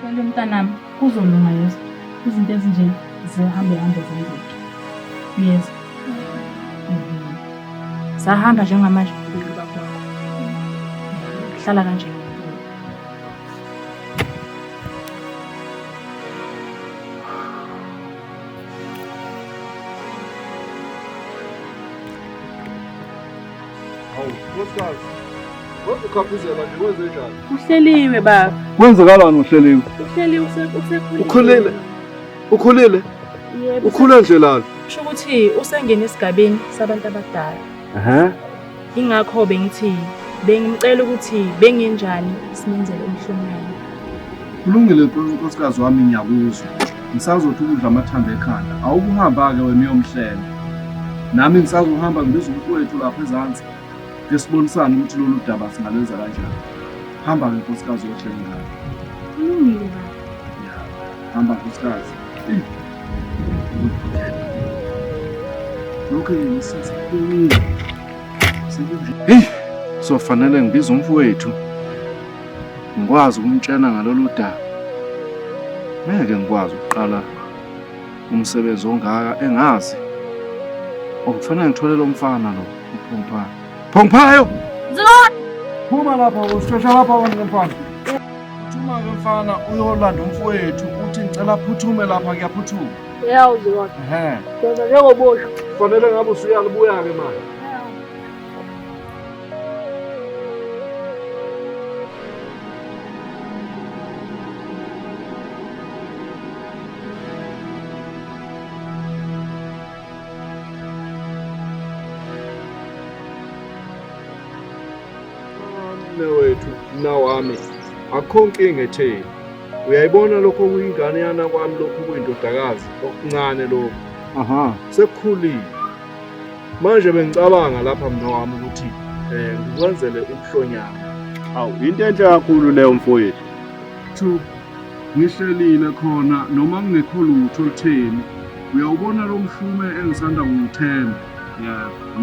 Tshela mntanami kuzolunga yeso izinto ezinje zihambe hambe zenzeke yeso sahamba njengamanje ububi bakho hlala kanje Hawu, nkosikazi. Wazikhaphuzela nje wenze njani? Uhleliwe baba. Kwenzekalani uhleliwe? Uhleliwe usekhulile. Ukhulile. Ukhulile? Yebo. Ukhule nje lana. Kusho ukuthi usengene esigabeni sabantu abadala. Ehhe. Ingakho bengithi bengimcela ukuthi bengenjani simenzele umhlonyana. Kulungile nkosikazi wami ngiyakuzwa. Ngisazothi ukudla amathambo ekhanda. Awukuhamba-ke wena uyomhlenga. Nami ngisazohamba ngibiza umfowethu lapha ezansi. Ke sibonisane ukuthi lolu daba singalwenza kanjani. Hamba-ke nkosikazi yohle ngalo. Kulungile baba. Ya, hamba nkosikazi. Eyi. Lokho yini sasa kuningi. Sekunje. Hey, sofanele ngibiza umfowethu. ngikwazi ukumtshena ngalolu daba ngeke ngikwazi ukuqala umsebenzi ongaka engazi okufanele ngithole lo mfana lo uphunguphayo phunguphayo phuma lapha usishesha lapha wena mfana phuma ke mfana uyolanda umfowethu uthi ngicela phuthume lapha kuyaphuthuma yawuzilona ehe njengoboshwa kufanele ngabe usuyalubuya ke manje mnawami akho nkinga etheni uyayibona lokho kuyingane yana kwami lokhu kuyindodakazi okuncane lokhu aha sekukhulile manje bengicabanga lapha mna wami ukuthi um ngikwenzele ubuhlonyana awu yinto enhle kakhulu leyo mfowethu two ngihlelile khona noma kungekho lutho olutheni uyawubona lo mhlume engisanda kuwuthenga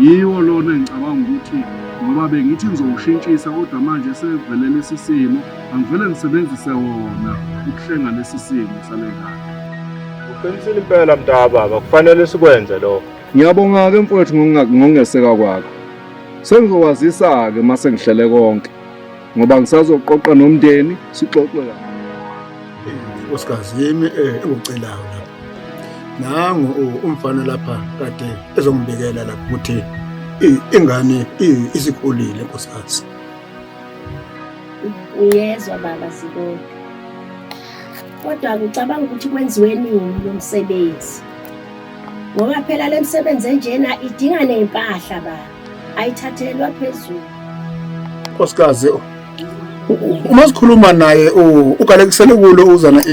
yiwo lona engicabanga ukuthi ngoba bengithi ngizowushintshisa kodwa manje sevele lesi simo angivele ngisebenzise wona ukuhlenga lesi simo sale ngane Uqinisile impela mntaka baba, kufanele sikwenze lokho. Ngiyabonga-ke mfowethu ngokungeseka kwakho. Sengizokwazisa-ke uma sengihlele konke ngoba ngisazoqoqa nomndeni sixoxe la. Nkosikazi yimi eh, engicelayo lapha. Nangu umfana lapha kade ezongibikela lapha ukuthi ingane isikhulile nkosikazi. Uyezwa baba Zibonga. Kodwa ngicabanga ukuthi kwenziwe nini lo msebenzi ngoba phela le msebenzi enjena idinga ney'mpahla ba ayithathelwa phezulu nkosikazi uma sikhuluma naye ugalekisele kulo uzana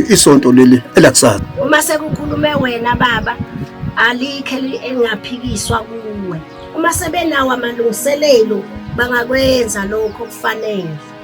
isonto leli elakusasa uma sekukhulume wena baba alikhe elingaphikiswa kuwe uma sebenawo amalungiselelo bangakwenza lokho kufanele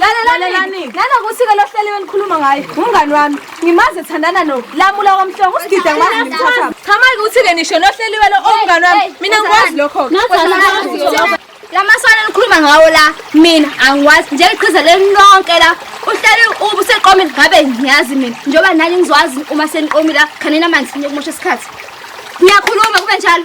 lalelani nanokuthi ke lohleliwe nikhuluma ngaye umngani wami ngimazi ethandana no lamula kwamhlongo usigide ngimazi ngimthatha cha manje ukuthi ke nisho lohleliwe lo omngani wami mina ngikwazi lokho lamaswana nikhuluma ngawo la mina angiwazi njengeqhiza lenonke la uhleli ubuseqomile ngabe ngiyazi mina njengoba nani ngizwazi uma seniqomile la khanina amanzi niyokumosha isikhathi ngiyakhuluma kube njalo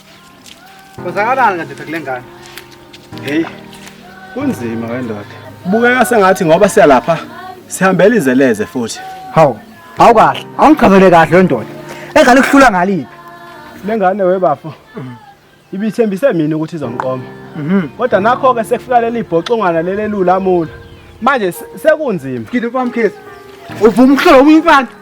Kwenzakalani kanti kule ngane? Hey. Kunzima wendoda. Kubukeka sengathi ngoba siyalapha sihambela izeleze futhi. Hawu. Hawu kahle. Awungichazele kahle wendoda. Engane ukuhlula ngaliphi? Lengane webafo. Ibithembise mina ukuthi izongiqoma. Mhm. Kodwa nakho ke sekufika leli bhoxongwana lelelula amula. Manje sekunzima. Ngidupha mkhezi. Uvuma ukuhlola umfana.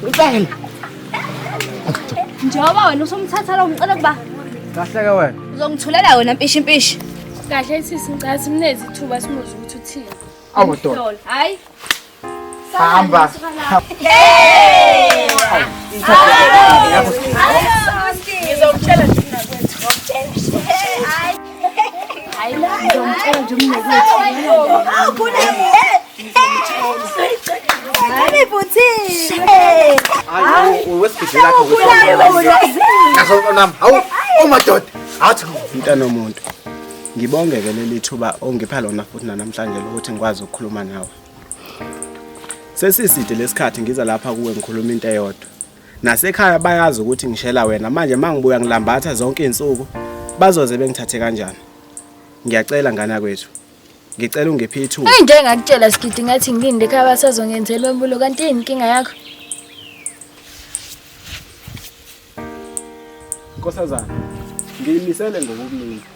Ngicela. Njengoba wena usumthatha lo ngicela kuba Kahle ke wena. uzongithulela wena mpishi mpishi. Kahle sisi ngicela simnezi ithuba simuze ukuthi uthini. Awu doda. Lol, Hayi. Hamba. Ngizomtshela thina kwethu. mntana omuntu ngibongeke leli thuba ongipha lona futhi nanamhlanje lokuthi ngikwazi ukukhuluma nawe sesiside lesikhathi ngiza lapha kuwe ngikhuluma into eyodwa Nasekhaya bayazi ukuthi ngishela wena manje mangibuya ngilambatha zonke izinsuku bazoze bengithathe kanjani. Ngiyacela ngana kwethu. Ngicela ungiphe ithuba. Into engakutshela sigidi ngathi ngilinde ekhaya basazongenzela umbulo kanti yini inkinga yakho? Nkosazana, ngiyimisele ngokukunika.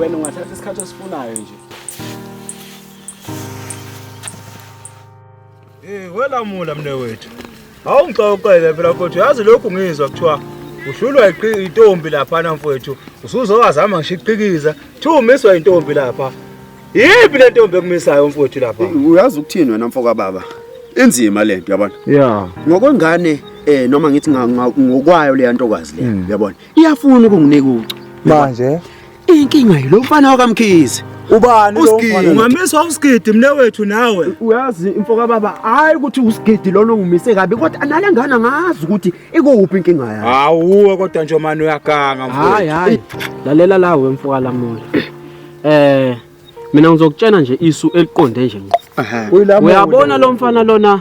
wena ungathatha isikhathi osifunayo nje Eh welamula mne wethu. Awungixoxele phela mfowethu yazi lokhu ngizwa kuthiwa uhlulwa iqi- intombi lapha na mfowethu usuzowazama ngisho iqikiza kuthiwa umiswa intombi lapha. Yiphi le ntombi ekumisayo mfowethu lapha? uyazi ukuthini wena mfoka baba inzima le nto yabona Yeah. ngokwengane eh noma ngithi nga- nga- ngokwayo leya ntokazi le yabona iyafuna ukunginika ucu manje inkinga yilo mfana wakamkhize ubani lo mfana ungamisa usigidi mne wethu nawe uyazi imfo kababa hayi ukuthi usigidi lona ungimise kabi kodwa anale ngane angazi ukuthi ikuphi inkinga yakhe hawuwe kodwa nje manje uyaganga mfowethu hayi hayi lalela la we mfo kalamoya eh mina ngizokutshena nje isu eliqonde nje ngqo Uyilamo- uyabona lo mfana lona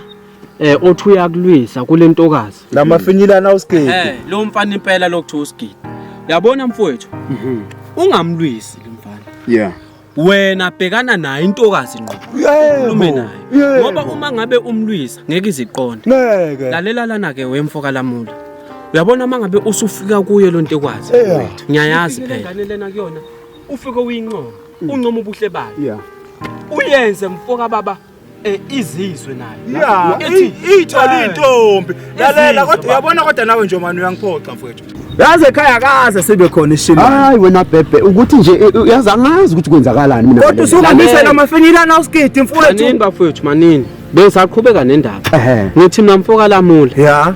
eh othi uyakulwisa kule ntokazi la mafinyilana usigidi Eh, lo mfana impela lokuthiwa usigidi. Yabona mfowethu. Ungamlwisi lo mfana. yeah Wena bhekana naye intokazi ngqo. Ukhulume naye. Yebo. Ngoba uma ngabe umlwisa ngeke iziqonde. ngeke Lalela lana ke wemfo kalamula. Uyabona uma ngabe usufika kuyo lo ntekwazi. Yeah. Ngiyayazi phela. Ingane lena kuyona. ufike uyinqomo mm. uncoma ubuhle bayo yeah uyenze mfoka baba eh, izizwe nayo yeah ithole eh, intombi lalela kodwa uyabona kodwa nawe nje manje uyangiphoxa mfowethu yazi ekhaya kaze sibe khona ishini hayi wena bhebhe ukuthi nje eh, eh, yazi angazi ukuthi kwenzakalani mina kodwa usuhambise namafinyila na uskidi mfowethu manini bafowethu manini besaqhubeka nendaba ngithi mina mfoka lamula yeah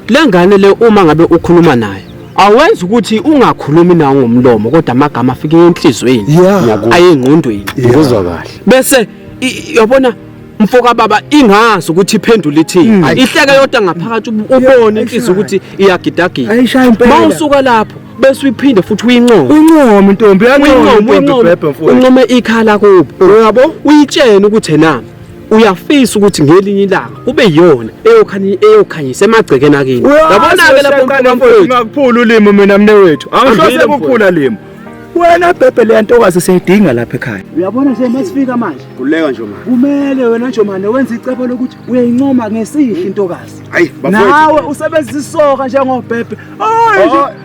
lengane le uma ngabe ukhuluma naye awenza ukuthi ungakhulumi nawo ngomlomo kodwa amagama afike enhlizweni Yeah. ayengqondweni ngikuzwa kahle bese i- yabona mfoka baba ingazi ukuthi iphendula ithini ihleke yodwa ngaphakathi ub- ubone inhliziyo ukuthi iyagidagida Ayishaya impela. ma usuka lapho bese uyiphinde futhi uyincome uncome ntombi uyincome uyincome uncome ikhala kubo uyabo uyitshene ukuthi enami uyafisa ukuthi ngelinye ilanga kube yiyona eyokhanyisa emagcekeni akini yabona-ke laphomakuphula ulimi mina mne wethu angihlose kuphula limi wena bhebhe leya ntokazi siyayidinga lapha ekhaya uyabona nje masifika manje kuleka nje manje kumele wena nje manje wenza icebo lokuthi uyayincoma ngesihle intokazi nawe usebenzisa isoka njengobhebhe hayi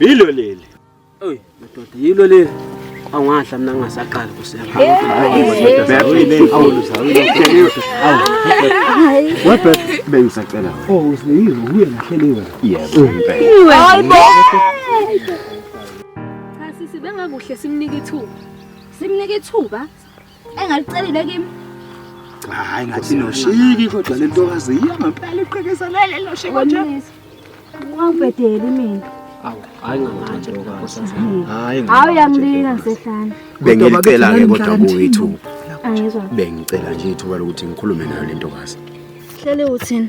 Yilo leli. Oy, madoda, yilo leli. Awungadla mina ngingasaqali kusema. Webhe bengisacela. Oh, usiyizo uye ngahleli wena. Yebo, impela. Hayibo. Cha sisi bengakuhle simnike ithuba. Simnike ithuba? engalicelile kimi hayi ngathi noshiki kodwa le ntokazi yiyo ngempela iqhekeza lele loshe konje wangibhedeli mina hayi ngamanje hayi hayi uyangilika ngisehlane bengicela ke kodwa kuwethu angizwa bengicela nje ithuba lokuthi ngikhulume nayo le ntokazi hlele uthini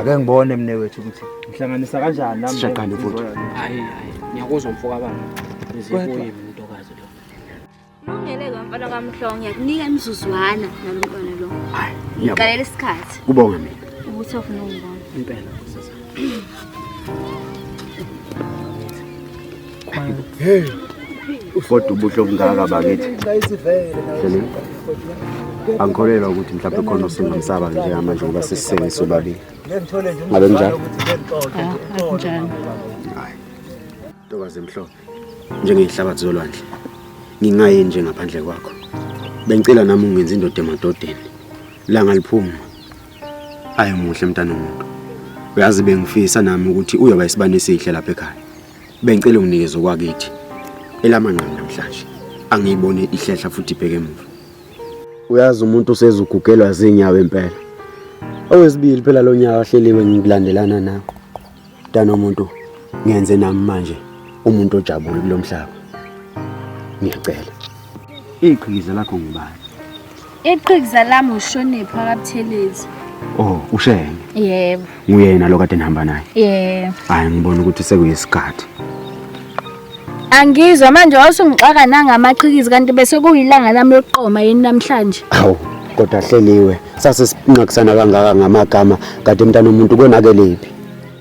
ake ngibone mne wethu ukuthi ngihlanganisa kanjani nami sishaqane futhi hayi hayi ngiyakuzwa mfoka baba izikuye mntokazi lo Lungele ke mfana kaMhlongo ngiyakunika imizuzwana nalomntwana lo. Hayi, ngiyabonga. Ngikalela isikhathi kubonga mina ukuthi ofuna ungibona. impela kodwa ubuhle obungaka bakithi angikholelwa ukuthi mhlawumbe khona osingamsaba njengamanje ngoba sisisengisa ubabili ngabe njalo ntokazi emhlophe njengeyihlabathi zolwandle ngingayini nje ngaphandle kwakho bengicela nami ungenza indoda emadodeni langa liphuma ayi muhle mntana omuntu uyazi bengifisa nami ukuthi uyoba isibani esihle lapha ekhaya Bengicela unginikeze okwakithi elamanqamu namhlanje. Angiyibone ihlehla futhi ibheke emuva. Uyazi umuntu usezugugelwa zinyawo impela. Owesibili phela lo nyaka wahleliwe ngikulandelana nakho. Dana umuntu ngenze nami manje umuntu ojabule kulomhlaba. Ngiyacela. Iqhikiza lakho ngubani? Iqhikiza lami ushoniphi akabuthelezi. Oh, ushenge. Yebo. Nguyena lo kade nihamba naye. Yebo. Hayi ngibona ukuthi sekuyisikhathi. Angizwa manje wasungixaka nangamaqhikizi kanti bese kuyilanga lami lokuqoma yini namhlanje. Hawu, kodwa hleliwe. Sase sinqakisana kangaka ngamagama kade mntana umuntu konakelephi?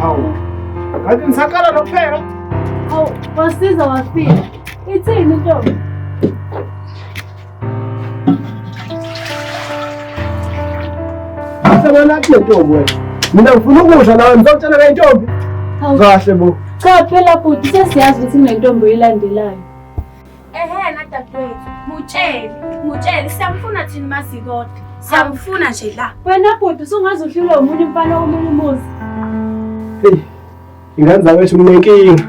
Hawu. Ngathi ngisaqala nokupheka. Hawu, wasiza wafika. Ithini intombi? Asebona kuthi ntombi wena. Mina ngifuna ukudla nawe ngizokutshela ke intombi. Hawu. Kahle bo. Cha phela bhuti sesiyazi ukuthi kunentombi oyilandelayo. Ehena dadewethu, mutshele, mutshele siyamfuna thina masikode. Siyamfuna nje la. Wena bhuti usungaze uhlulwe umuntu imfana omunye umuzi. Hey. Ingane zawethu kunenkinga.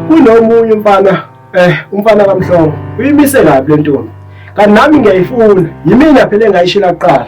Kunomunye umfana eh umfana kamhlongo. Uyimise kabi le ntombi. Kanami ngiyayifuna. Yimina phela engayishila kuqala.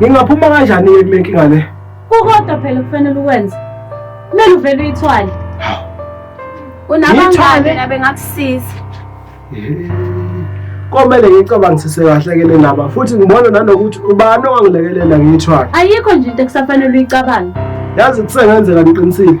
Ngingaphuma kanjani ke kule nkinga le? Kukodwa phela kufanele ukwenze. Kumele uvele uyithwale. Unabangane la bengakusiza. Komele ngicabangisise kahle ke le ndaba futhi ngibona nanokuthi ubani owangilekelela ngiyithwale. Ayikho nje into ekusafanele uyicabange. Yazi kusengenzeka ngiqinisile.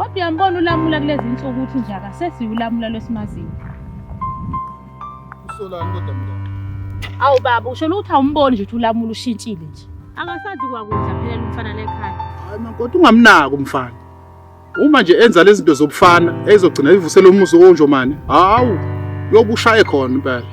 Kodwa uyambona ulamula kulezi nsuku ukuthi nje akasesiye ulamula lwesimaziyo. Usolani kodwa mina? Awu baba usho ukuthi awumboni nje ukuthi ulamula ushintshile nje. Akasazi kwakudla phela umfana lekhaya. Hayi mankoti ungamnaki umfana. Uma nje enza lezi zinto zobufana ezogcina ivusela umuzi onjomane. Hawu, yobushaye khona impela.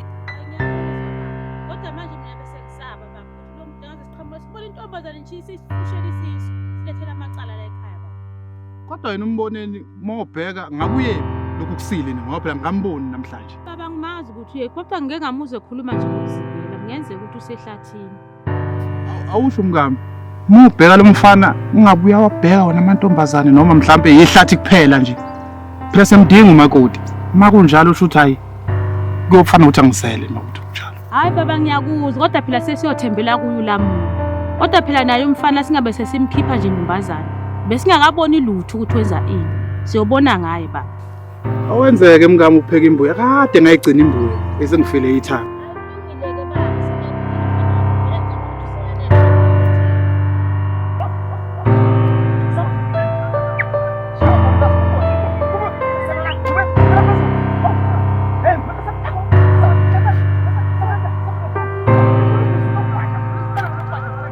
Kodwa manje mina bese ngisaba baba. Lo muntu ngaze siqhamuka sibona intombazane nje isishushela isisu. Silethela amacala la ekhaya baba. Kodwa yena umboneni mawubheka ngabuye lokhu kusile ni ngoba phela ngamboni namhlanje. Baba ngimazi ukuthi uye kodwa ngike ngamuzwe ekhuluma nje ngokuzingela. Kungenzeka ukuthi usehlathini. awusho mkami uma ubheka lo mfana ungabe uyawabheka wona amantombazane noma mhlampe yihlathi kuphela nje phela semdinga umakoti uma kunjalo usho ukuthi hhayi kuyofana ukuthi angisele nokuthi kunjalo hhayi baba ngiyakuzwa kodwa phela sesiyothembela kuyo lamulo kodwa phela naye umfana singabe sesimkhipha nje ntombazane besingakaboni lutho ukuthi wenza ini siyobona ngaye baba Awenzeke mkami ukupheka imbuya kade ngayigcina imbuya bese ngifile ithanga.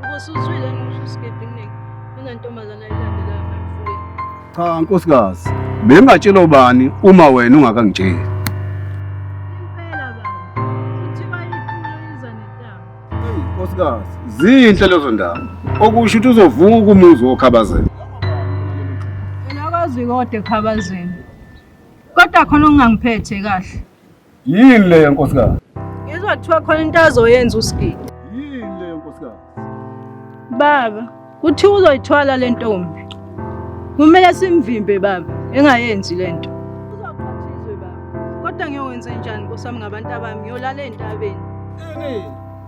Ubusuzwile ngisho isigebengu kunantombazana ilandelayo emfuleni. Cha nkosikazi, bengatshela ubani uma wena ungakangitsheli. Impela baba, kuthiwa ipulo iza nentaba. Hey nkosikazi, zinhle lezo ndaba. Okusho ukuthi uzovuka umuzi wokhabazela. Phela kwazi kodwa ekhabazeni. Kodwa khona okungangiphethe kahle. Yini le nkosikazi? Ngizwa kuthiwa khona into azoyenza uSigidi. Yini le nkosikazi? Baba, kuthiwa uzoyithwala le ntombi. Kumele simvimbe baba, engayenzi le nto. Uzoqhathizwe baba. Kodwa ngiyokwenze njani nkosami ngabantu abami? Ngiyolala entabeni.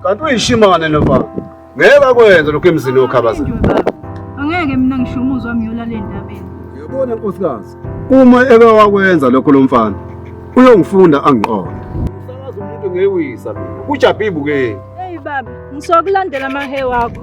Kanti uyishimane lo baba. Ngeke bakwenze lokho emzini okhabaza. Angeke mina ngisho umuzwa wami yola le ndabeni. Uyabona nkosikazi, uma eke wakwenza lokho lo mfana uyongifunda angiqonde. Usakaza umuntu ngewisa mina. Kujabhibu ke. Hey baba, ngisokulandela amahe wakho.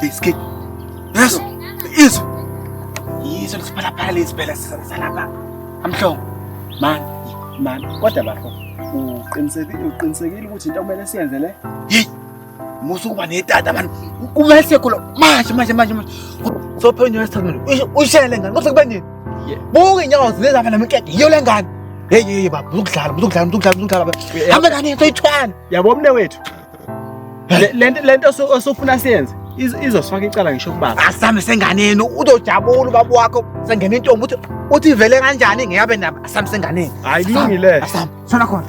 Biscuit. Yes. Is. Yizo lisiphalaphala lezi phela salapha. Amhlongo. Man, man. Kodwa bafo. Uqinisekile uqinisekile ukuthi into kumele siyenze le? Hey. Musa ukuba netata man. Kumele sekho manje manje manje. Sophe unywe sithandweni. Ushayele ngani? Kodwa kuba nini? buka inyawo zileza phela mkeke yiyo le ngane hey hey baba uzokudlala uzokudlala uzokudlala uzokudlala baba hamba ngane into ithwana yabo mne wethu lento lento osufuna siyenze izosifaka icala ngisho kubaba asame senganeni uzojabula ubaba wakho sengena intombi uthi uthi ivele kanjani ngiyabe nabo asame senganeni hayi kulungile asame sona khona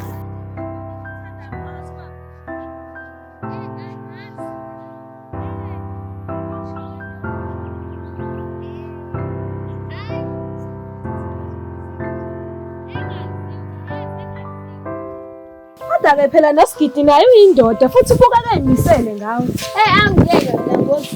kodwa-ke phela nosigidi naye uyindoda futhi ubuka kayimisele ngawe um angiyeke mina ngozi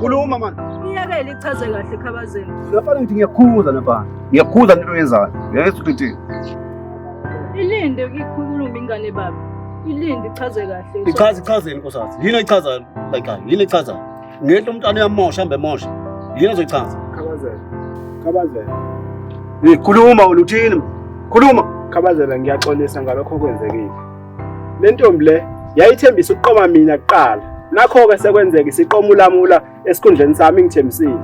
Khuluma mani. Iyekele ichaze kahle khabazeni. Nafana ngithi ngiyakhuza nafana. Ngiyakhuza into oyenzayo. Ngeke ukuthi. Ilinde ukukhuluma ingane baba. Ilinde ichaze kahle. Ichaze ichazeni nkosazi. Yini echaza like yini echaza? Ngento umntwana uyamosha mbe mosha. Yini ezochaza? Khabazela. Khabazela. Ngikhuluma uthini? Khuluma. Khabazela ngiyaxolisa ngalokho okwenzekile. Le ntombi le yayithembisa ukuqoma mina kuqala. Nakho-ke sekwenzeka isiqoma ulamula esikhundleni sami ngithembisile.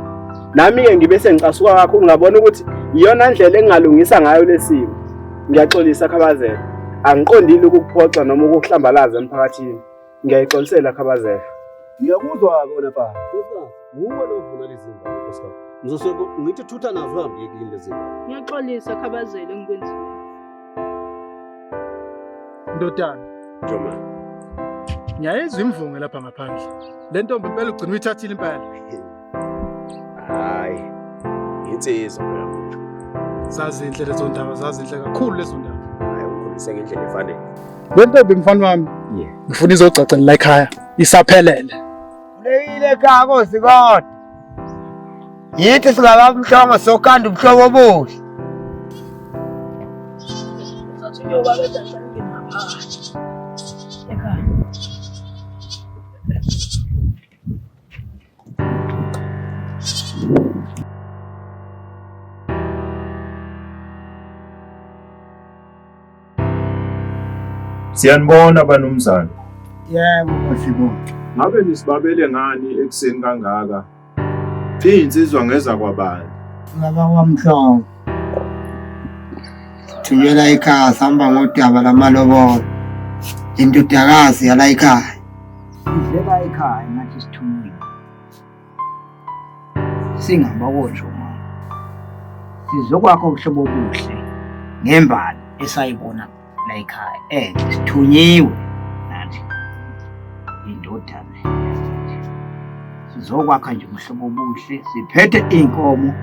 Nami-ke ngibe sengicasuka kakhulu ngabona ukuthi iyona ndlela engingalungisa ngayo lesimo. Ngiyaxolisa Khabazela. Angiqondile ukukuphoxa noma ukukuhlambalaza emphakathini. Ngiyayixolisela Khabazela. Ngiyakuzwa kona baba. Nkosikazi, wuwe lo vuna lezi ngane nkosikazi. Ngizosho ku- ngithi thutha nazo uhambe uye kini lezi ngane. Ngiyaxolisa khabazela engikwenzile. Ndodana, Joma. ngiyayizwa imvunge lapha ngaphandle. Le ntombi impela ugcina uyithathile impela. Hayi. Insizwa phela mfethu. Zazinhle lezo ndaba, zazinhle kakhulu lezo ndaba. Hayi ukhulise ngendlela efanele. Le ntombi mfana wami. Yeah. Ngifuna izogcagcela la ekhaya. Isaphelele. Kuleyile ekhaya kosi kodwa. Yithi singabamhlongo sokanda ubuhlobo obuhle. Siyanibona banumzane. Yebo mfibonke. Ngabe nisibabele ngani ekuseni kangaka? Izinsizwa ngeza kwabani? Baba wamhlongo. Thumela ekhaya sihamba ngodaba lamalobolo. Indodakazi yala ekhaya. Sidleka ekhaya ngathi sithunyiwe. Singaba kosho mama. Sizokwakho ubuhlobo obuhle ngembali esayibona la ekhaya. Eh, sithunyiwe nathi. Indodana. Sizokwakha nje ubuhlobo obuhle, siphethe inkomo.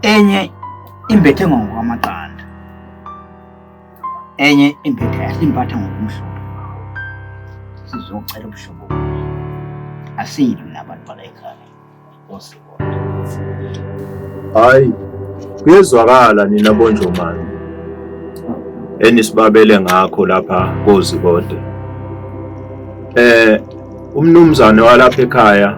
Enye imbethe ngokwamaqanda. enye impetha yasimpatha ngokumhlophe sizocela ubuhlobo asiyilwi nabantu balayikhaya osibona hayi kuyezwakala nina bonjomane enisibabele ngakho lapha kozikode eh umnumzane walapha ekhaya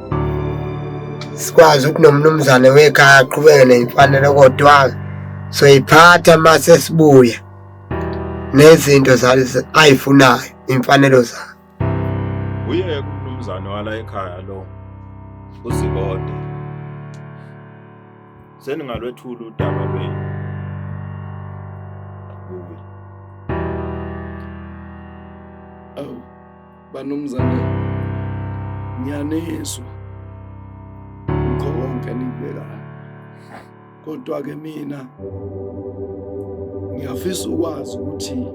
sikwazi ukuthi nomnumzane wekhaya aqhubeke neyimfanelo kodwa soyiphatha uma sesibuya nezinto ayifunayo imfanelo zakhe uyeke umnumzane wala ekhaya lo uzibode seningalwethula udaba lwenu kuwe banumzane ngiyanizwa ngikho konke enikubekayo kodwa-ke mina ngiyafisa ukwazi ukuthi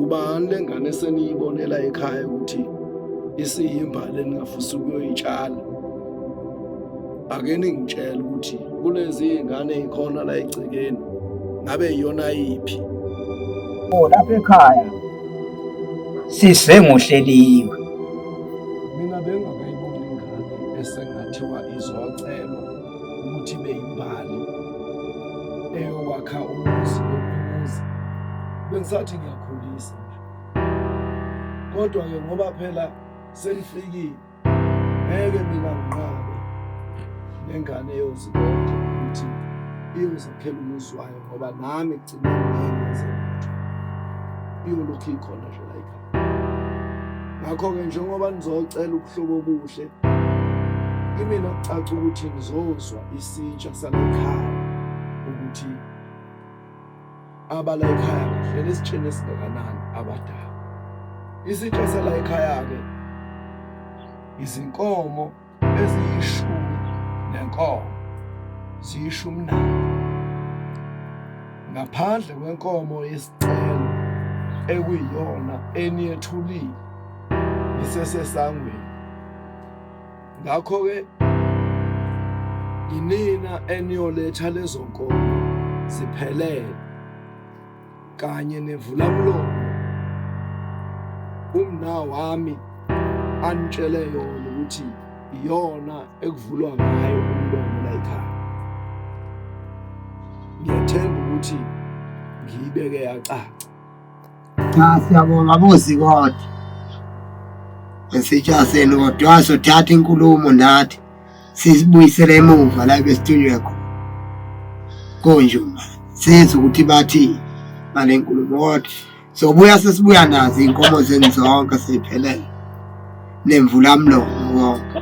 ubani le ngane seniyibonela ekhaya ukuthi isiyimbali eningafisa ukuyoyitshala ake ningitshele ukuthi kulezi ngane ikhona la egcekeni ngabe iyona yiphi oh lapha ekhaya sise ngohleliwe mina bengakayiboni ingane esengathiwa izocelwa ukuthi beyimbali eyowakha umuzi wokuzi bengisathi ngiyakhulisa kodwa-ke ngoba phela senifikile ngeke mina nginqabe nengane eyozibona ukuthi iyozakhela umuzi wayo ngoba nami kugcina ngiyenze lutho iyolokhu ikhona nje layikha ngakho-ke njengoba nizocela ubuhlobo obuhle kimina kucaca ukuthi ngizozwa isitsha salekhaya ukuthi abala ekhaya kahle lesitsheni esingakanani abadala isitsha sala ekhaya ke izinkomo eziyishumi nenkomo ziyishumi nane ngaphandle kwenkomo yesicelo ekuyiyona eniyethulile isesesangweni Ngakho-ke yinina eniyoletha lezo nkomo ziphelele kanye nevulamlomo umna wami anitshele yona ukuthi iyona ekuvulwa ngayo umlomo la ekhaya ngiyethemba ukuthi ngiyibeke yacaca Cha siyabonga bozi kodwa. Esijaseni kodwa wasothatha inkulumo nathi sizibuyisele emuva la besithunywe khona. Konje uma sizwe ukuthi bathi ngale nkulumo kodwa sobuya sesibuya nazo inkomo zenu zonke seyiphelele nemvula mlomo konke.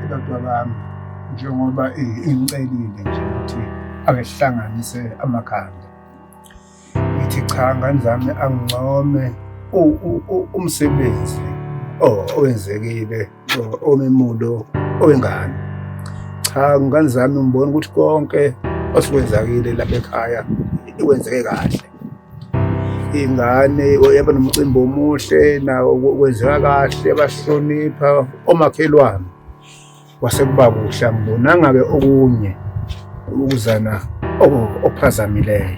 Abantu bami njengoba ingicelile nje ukuthi akehlanganise amakhanda ngithi cha ngane zami angincome umsebenzi owenzekile omemulo owengane cha ngane zami ngibona ukuthi konke osekwenzakile lapha ekhaya ikwenzeke kahle ingane yaba nomcimbi omuhle nawo kwenzeka kahle bahlonipha omakhelwane kwase kuba kuhle angibonanga-ke okunye ukuzana okuphazamileyo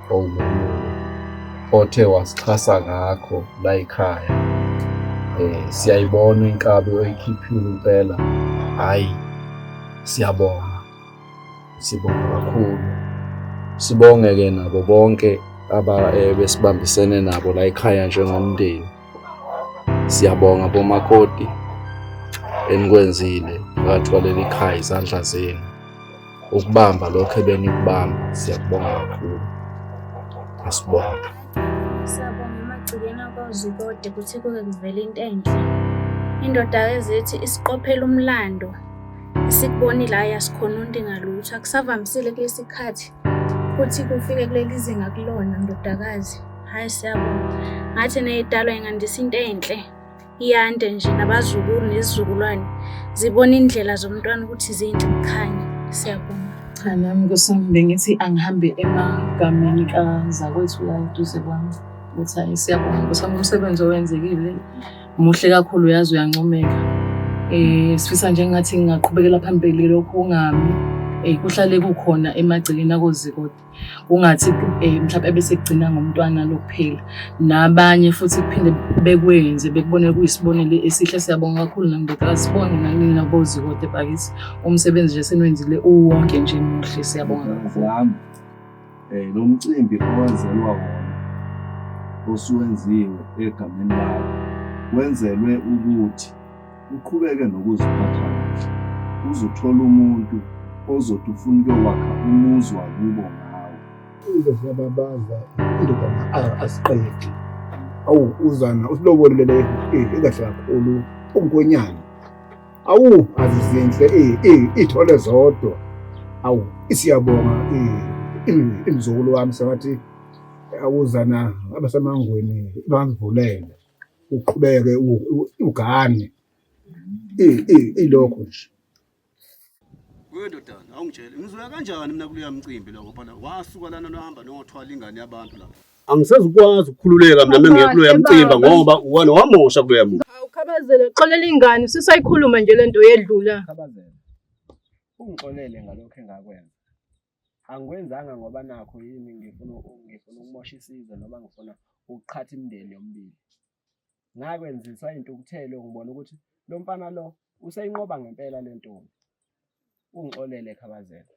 othe wasixhasa ngakho la yikhaya um eh, siyayibona inkabi oyikhiphile impela hhayi siyabonga sibonga kakhulu sibonge-ke nabo bonke abebesibambisene eh, nabo la yikhaya njengomndeni siyabonga bomakoti enikwenzile ngathwaleli khaya izandla zenu ukubamba lokho ebenikubamba siyakubonga kakhulu asibonge siyabonga emagcikeni akwazi kode kuthi kuke kuvele into enhle indoda ezithi isiqophela umlando sikubonile hhayi asikhononti ngalutho akusavamisile kulesi khathi futhi kufike kuleli zinga kulona ndodakazi hhayi siyabonga ngathi neyidalwa ingandisa into enhle iyande nje nabazukulu nezizukulwane zibona indlela zomntwana ukuthi zinhle kukhanya siyabonga cha nami kusami bengithi angihambe emagameni kazakwethu la eduze kwami ukuthi hayi siyabonga kusami umsebenzi owenzekile muhle kakhulu uyazi uyancomeka um sifisa nje ngathi ngingaqhubekela phambili lokhu kungami um kuhlale kukhona emagcekeni akozikode kungathi eh, mhlawumbe ebesegcina ngomntwana lokuphila nabanye futhi kuphinde bekwenze bekubone kuyisibonelo esihle siyabonga kakhulu nangibeka sibone nanini nabozi kodwa bakithi umsebenzi nje senwenzile uwonke nje muhle siyabonga kakhulu wami eh lo mcimbi owenzelwa wona osuwenziwe egameni lakho wenzelwe ukuthi uqhubeke nokuziphatha kahle uzothola umuntu ozothi ufuna ukuyowakha umuzi wakubo ngawo into ziyababaza indodana asiqedi awu uzana usilobolele eh, ekahle kakhulu ungonyana awu azizinhle eh, eh, ithole zodwa awu isiyabonga imzukulu wami sengathi awuzana abasemangweni bangivulele uqhubeke ugane ilokho nje wendodana awungitshele ngizoya kanjani mina kuleya mcimbi lokho phana wasuka lana nohamba nothwala ingane yabantu lapho angisezukwazi ukukhululeka mina mengiye kuloya mcimba ngoba uwana wamosha kuloya muntu awukhabazele xolela ingane sisayikhuluma nje lento yedlula ukhabazele ungixolele ngalokho engakwenza angikwenzanga ngoba nakho yini ngifuna ngifuna ukumosha isizwe noma ngifuna ukuqhatha imindeni yomibili ngakwenziswa intukuthelo ngibona ukuthi lo mfana lo useyinqoba ngempela le ntombi ungixolele khabazela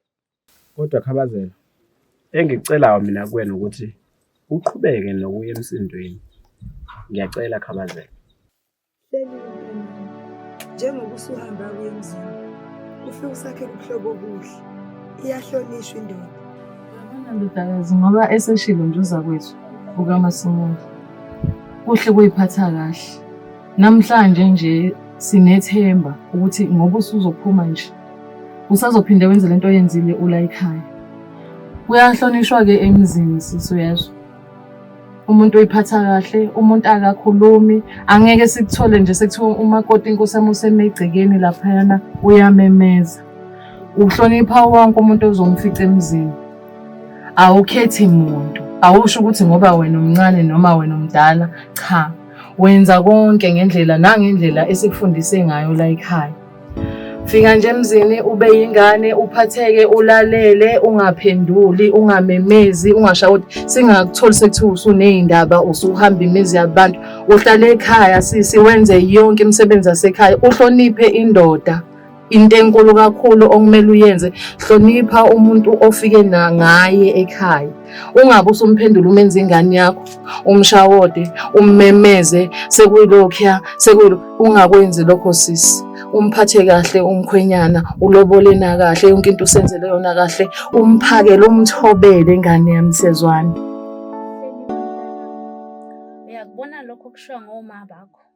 kodwa khabazela engikucelayo mina kuwena ukuthi uqhubeke nokuya emsindweni ngiyacela khabazela Hleli mntanami, njengoba usuhamba kuye emzini, ufike usakhe ubuhlobo obuhle. Iyahlonishwa indoda. Yabona ndodakazi, ngoba eseshilo nje uzakwethu ukaMasimula. Kuhle kuyiphatha kahle. Namhlanje nje sinethemba ukuthi ngoba usuzophuma nje usazophinde wenze lento oyenzile ula ekhaya. Kuyahlonishwa-ke emzini sisi uyezwa. umuntu uyiphatha kahle umuntu akakhulumi angeke sikuthole nje sekuthiwa umakoti inkosi yami usemegcekeni laphayana uyamemeza uhlonipha wonke umuntu ozomfica emzini awukhethi muntu awusho ukuthi ngoba wena umncane noma wena umdala cha wenza konke ngendlela nangendlela esikufundise ngayo la ekhaya Fika nje emzini ube yingane uphatheke ulalele ungaphenduli ungamemezi ungashayi ukuthi singakutholi sekuthiwa usuney'ndaba usuhamba imizi yabantu uhlale ekhaya sisi wenze yonke imisebenzi yasekhaya uhloniphe indoda into enkulu kakhulu okumele uyenze hlonipha umuntu ofike ngaye ekhaya ungabe usumphendula umenza ingane yakho umshawode ummemeze sekuyilokhuya sekuyilo ungakwenzi lokho sisi umphathe kahle umkhwenyana ulobole na kahle yonke into usenzele yona kahle umphakele umthobele ingane yami sezwana uyakubona lokho kushiwa ngomama bakho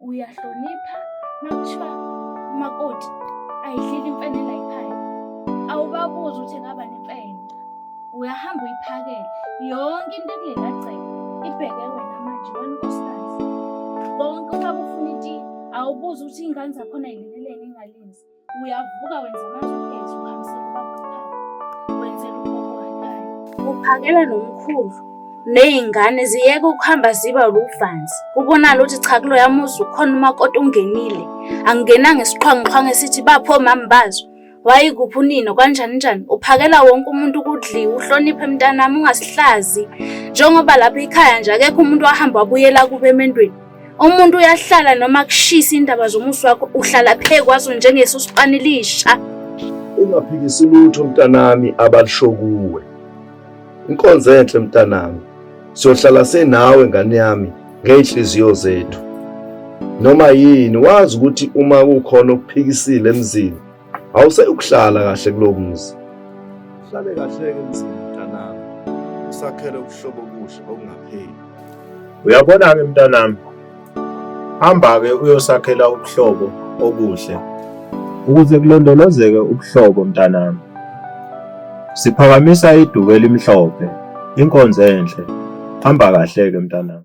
uyahlonipha makuthiwa umakoti ayidlile imfene la ekhaya awubabuzi ukuthi ngaba nemfene uyahamba uyiphakele yonke into ekulelagceke ibheke wena manje wena unkosikazi konke uma kufuna iti awubuzi ukuthi iy'ngane zakhona yileleleni ingalenzi uyavuka wenza amazokezo uhambisela ubabhekhayo wenzela ubokwatayo uphakela nomkhulu ney'ngane ziyeke ukuhamba ziba luvanzi kubonala ukuthi cha kulo yamuzi ukhona umakoti ungenile angenanga isiqhwangiqhwangi esithi bapho mami bazo wayikuphi unino kanjani njani uphakela wonke umuntu ukudliwa uhloniphe mntanami ungasihlazi njengoba lapha ikhaya nje akekho umuntu wahamba wabuyela kube emendweni Umuntu uyahlala noma kushisa indaba zomusi wakho uhlala phe kwazo njengeso sipanilisha. Ungaphikisi lutho mntanami abalisho kuwe. Inkonzo enhle mntanami. Siyohlala senawe ngane yami ngeyinhliziyo zethu. Noma yini wazi ukuthi uma kukhona okuphikisile emzini Awuse ukuhlala kahle kulo muzi. Hlale kahle ke mzini mntanami. Usakhele ubuhlobo obuhle okungapheli. Uyabona ke mntanami. Hamba ke uyosakhela ubuhlobo obuhle. Ukuze kulondolozeke ubuhlobo mntanami. Siphakamisa iduku elimhlophe, inkonzo enhle. Hamba kahle ke mntanami.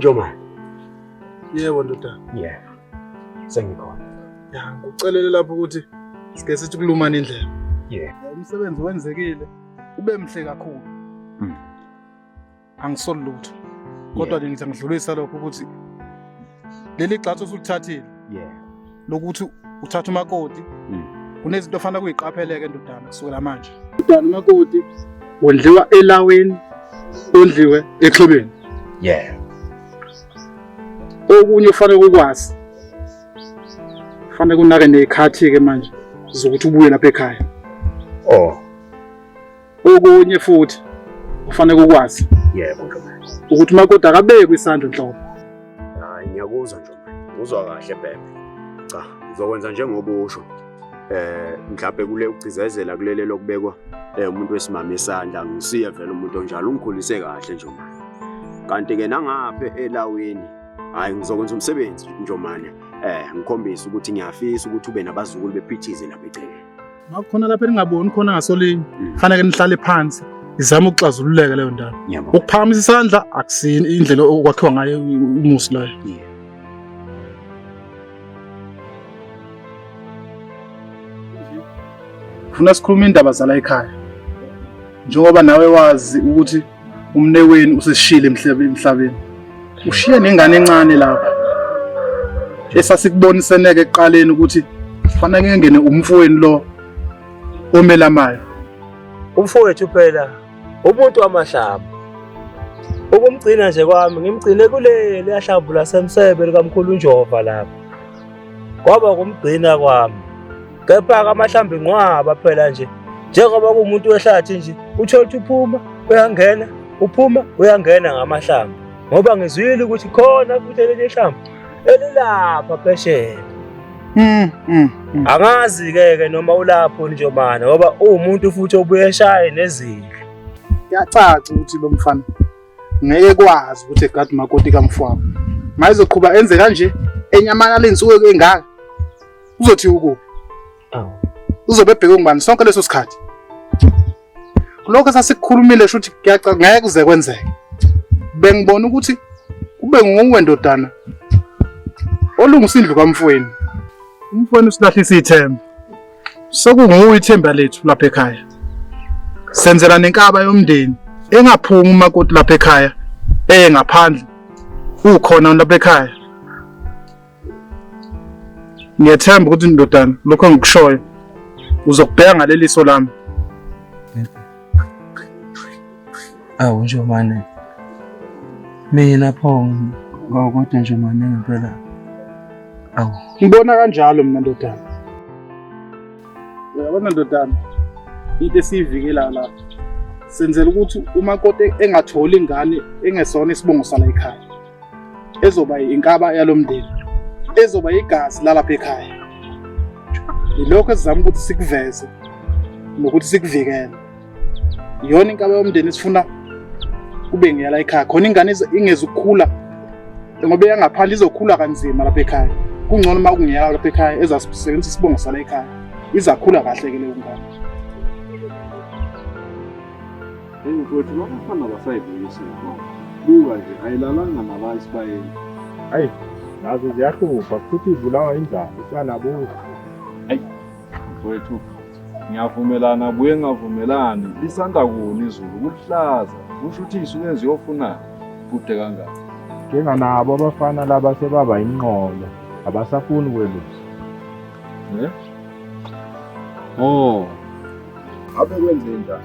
Njomane. Yebo ndoda. Yeah. Sengikhona. Ya, ngikucelele lapho ukuthi sike sithi kulumana indlela. Yeah. Umsebenzi wenzekile ube mhle kakhulu. Mm. angisoli lutho kodwa ke ngithi ngidlulisa lokho ukuthi leli gxathu osulithathile yeah lokuthi uthatha umakoti mm. kunezinto ofanele kuyiqapheleke ndodana kusukela manje ndodana umakoti wondliwa elaweni ondliwe exhibeni yeah okunye ufanele ukwazi fanele kunake nekhathi ke manje zokuthi ubuye lapha ekhaya oh Okunye futhi ufanele ukwazi. Yebo Ntombela. Ukuthi umakoti akabekwe isandla enhloko. Hayi ngiyakuzwa Ntombela. Uzwa kahle bebe. Cha, ngizokwenza njengoba usho. Eh mhlawumbe kule ukugcizezela kulele lokubekwa eh umuntu wesimama isandla ngisiye vele umuntu onjalo ungikhulise kahle nje manje. Kanti ke nangaphe elawini hayi ngizokwenza umsebenzi njomane eh ngikhombisa ukuthi ngiyafisa ukuthi ube nabazukulu bephithize lapha eceleni. Makukhona lapha elingaboni khona ngasolinye, mm. faneke nihlale phansi izama ukuxazululeka leyo ndaba. Ukuphakamisa isandla akusini indlela okwakhiwa ngayo umusi layo. Yeah. Funa sikhuluma indaba zala ekhaya. Njengoba nawe wazi ukuthi umneweni useshile emhlabeni ushiye nengane encane lapha esasikuboniseneke ekuqaleni ukuthi kufanele kungene umfowenu lo omelamayo umfowethu phela umuntu wamahlaba ukumgcina nje kwami ngimgcine kuleli yahlamvu lasemsebe likamkhulu unjova lapha kwaba kumgcina kwami Kepha-ke amahlambi inqwaba phela nje njengoba kuwumuntu wehlathi nje uthole ukuthi uphuma uyangena uphuma uyangena ngamahlambi ngoba ngizwile ukuthi khona futhi elinye ihlambi elilapha phesheya mm, mm, mm. angazi-ke ke noma ulapho njomane ngoba uwumuntu futhi obuye eshaye nezindlu kuyacaca ukuthi lo mfana ngeke kwazi ukuthi egade umakoti kamfwabo mayezoqhuba enze kanje enyamalala iy'nsuku engaka uzothi ukuphi awu uzobe ebheke ngubani sonke leso sikhathi lokho sasikukhulumile shuthi kuyaca ngeke kuze kwenzeke bengibona ukuthi kube nguwe ndodana olungisa indlu kamfweni umfweni usilahlisa ithemba sekunguwe ithemba lethu lapha ekhaya senzela nenkaba yomndeni engaphumi umakoti lapha ekhaya eye ngaphandle ukhona lapha ekhaya Ngiyethemba ukuthi ndodana lokho engikushoyo uzokubheka ngaleliso lami. Awu nje manje. Mina pho kodwa nje manje ngempela. Awu. Ngibona kanjalo mina ndodana. Uyabona ndodana into esiyivikela la senzela ukuthi umakoti engatholi ingane engesona isibongo sala ekhaya. ezoba inkaba yalo mndeni ezoba igazi lalapha ekhaya yilokho esizama ukuthi sikuveze nokuthi sikuvikele yona inkaba yomndeni esifuna kube ngiyala ekhaya khona ingane ingezi ukukhula ngoba eyangaphandle izokhula kanzima lapha ekhaya kungcono uma kungeyala lapha ekhaya ezasebenzisa isibongo sala ekhaya izakhula kahle ke leyo ngane Hey mfowethu labafana basayivuyisa inkomo. Buka nje ayilalanga naba isibayeni. Hayi nazo ziyahlupha futhi ibulawa indlala isanabuza. Mfowethu ngiyavumelana buye ngavumelani lisanda kuni izulu kuhlaza kusho ukuthi isuke ziyofuna kude kangaka. Njenganabo abafana laba sebaba inqolo abasafuni kwelusa. Eh? Oh. Abe kwenze njani?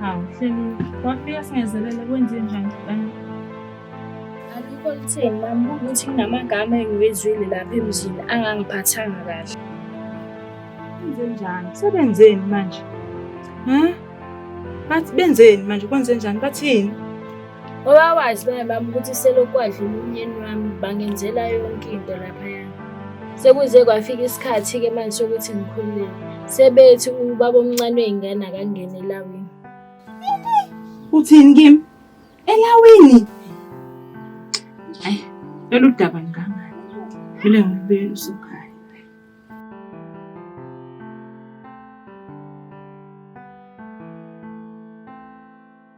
Hawu, Hleli, wafika singezelele kwenze njani mfana? Alikho litheni mama ukuthi kunamagama engiwezwile lapha emzini angangiphathanga kahle. Kwenze njani? Sebenzeni manje? Huh? Bathi benzeni manje? Kwenze njani? Bathini? Ngoba wazi bana bami ukuthi selokhu kwadlula umyeni wami bangenzela yonke into laphayana. Sekuze kwafika isikhathi-ke manje sokuthi ngikhululeke. Sebethi ubaba omncane wey'ngane akangene elawini. Uthini kimi? Elawini? Ayi, lolu daba ngikangani. Kumele ngilubuyele usukhaya.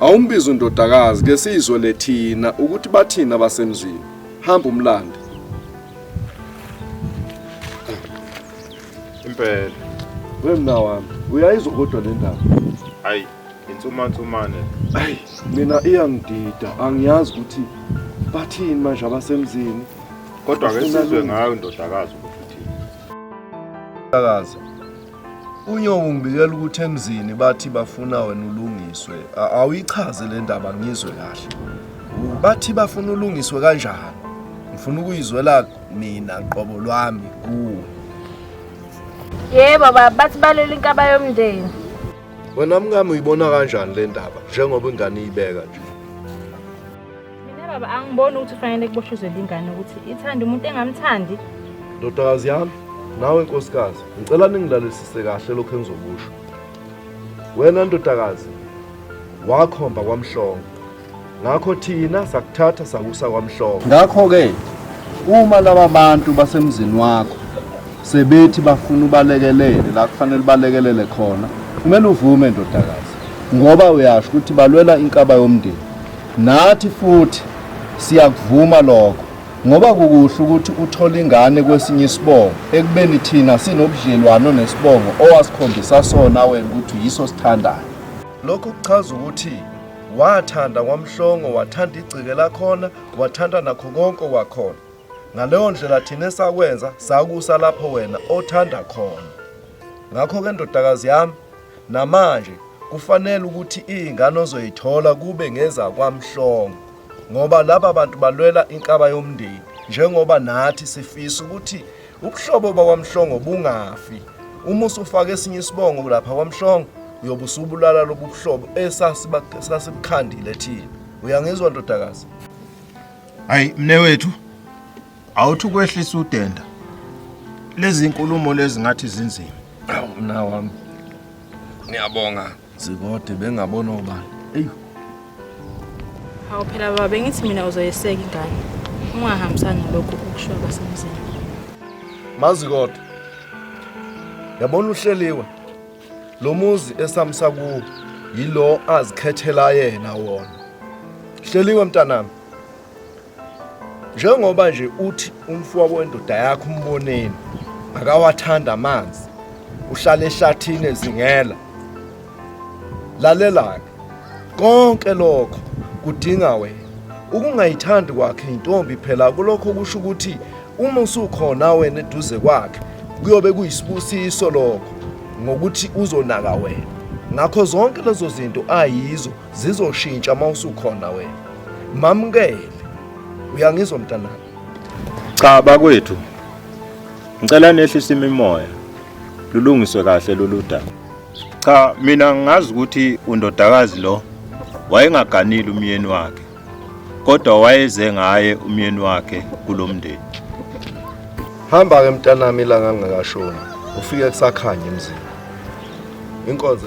Awumbize undodakazi ke sizwe lethina ukuthi bathini abasemzini. Hamba umlande. Impela. Wemna wami, uyayizwa kodwa le ndaba. Hayi, insumansumane. Hayi, mina iyangidida, angiyazi ukuthi bathini manje abasemzini. Kodwa ke sizwe ngayo indodakazi ukuthi uthini. Indodakazi Unyoka ungibikela ukuthi emzini bathi bafuna wena ulungiswe. A- Awuyichaze le ndaba ngizwe kahle. U- Bathi bafuna ulungiswe kanjani? Ngifuna ukuyizwela mina qobo lwami kuwe. Yebo baba bathi balwela inkaba yomndeni. Wena mkami uyibona kanjani le ndaba njengoba ingane iyibeka nje? mina baba angiboni ukuthi ufanele kuboshuzele ingane ukuthi ithanda umuntu engamthandi ndodakazi yami nawe nkosikazi ngicela ningilalelisise kahle lokho engizokusho wena ndodakazi wakhomba kwamhlongo ngakho thina sakuthatha sakusa kwamhlongo ngakho-ke uma laba bantu basemzini wakho sebethi bafuna ubalekelele la kufanele ubalekelele khona kumele uvume ndodakazi ngoba uyasho ukuthi balwela inkaba yomndeni Nathi futhi siyakuvuma lokho ngoba kukuhle ukuthi uthole ingane kwesinye isibongo ekubeni thina sinobudlelwano nesibongo owasikhombisa sona wena ukuthi yiso sithandayo lokhu kuchaza ukuthi wathanda kwamhlongo wathanda igcike lakhona wathanda nakho konke kwakhona ngaleyo ndlela thina esakwenza sakusa lapho wena othanda khona ngakho-ke ndodakazi yami Namanje kufanele ukuthi iy'ngane ozoyithola kube ngezakwamhlongo ngoba laba bantu balwela inkaba yomndeni njengoba nathi sifisa ukuthi ubuhlobo bakwamhlongo bungafi uma usufaka esinye isibongo lapha kwamhlongo uyobe usubulala lobu buhlobo esasibukhandile thina uyangizwa ndodakazi hayi mne wethu Awuthi ukwehlisa udenda. Lezi inkulumo lezi ngathi zinzima. Awu mna wami. Ngiyabonga. Zikode bengabona obani. Ey. Hawu phela baba bengithi mina uzoyeseka ingane. Ungahambisani lokho ukusho abasemzini. Mazi kodwa. Yabona uhleliwe. Lo muzi esamsa kuwo yilo azikhethela yena wona. Hleliwe mntanami. njengoba nje uthi umfowabo wendoda yakho umboneni akawathanda amanzi uhlala ehlathini ezingela lalela-ke konke lokho kudinga wena ukungayithandi kwakhe intombi phela kulokho kusho ukuthi uma usukhona wena eduze kwakhe kuyobe kuyisibusiso lokho ngokuthi uzonaka wena ngakho zonke lezo zinto ayizo zizoshintsha uma usukhona wena mamukele uyangizwa mntanami cha bakwethu ngicela nehlise imimoya lulungiswe kahle lolu daba cha mina ngazi ukuthi undodakazi lo wayengaganile umyeni wakhe kodwa wayeze ngaye umyeni wakhe kulomndeni hamba ke mntanami ilanga ngingakashoni ufike kusakhanya emzini inkonzo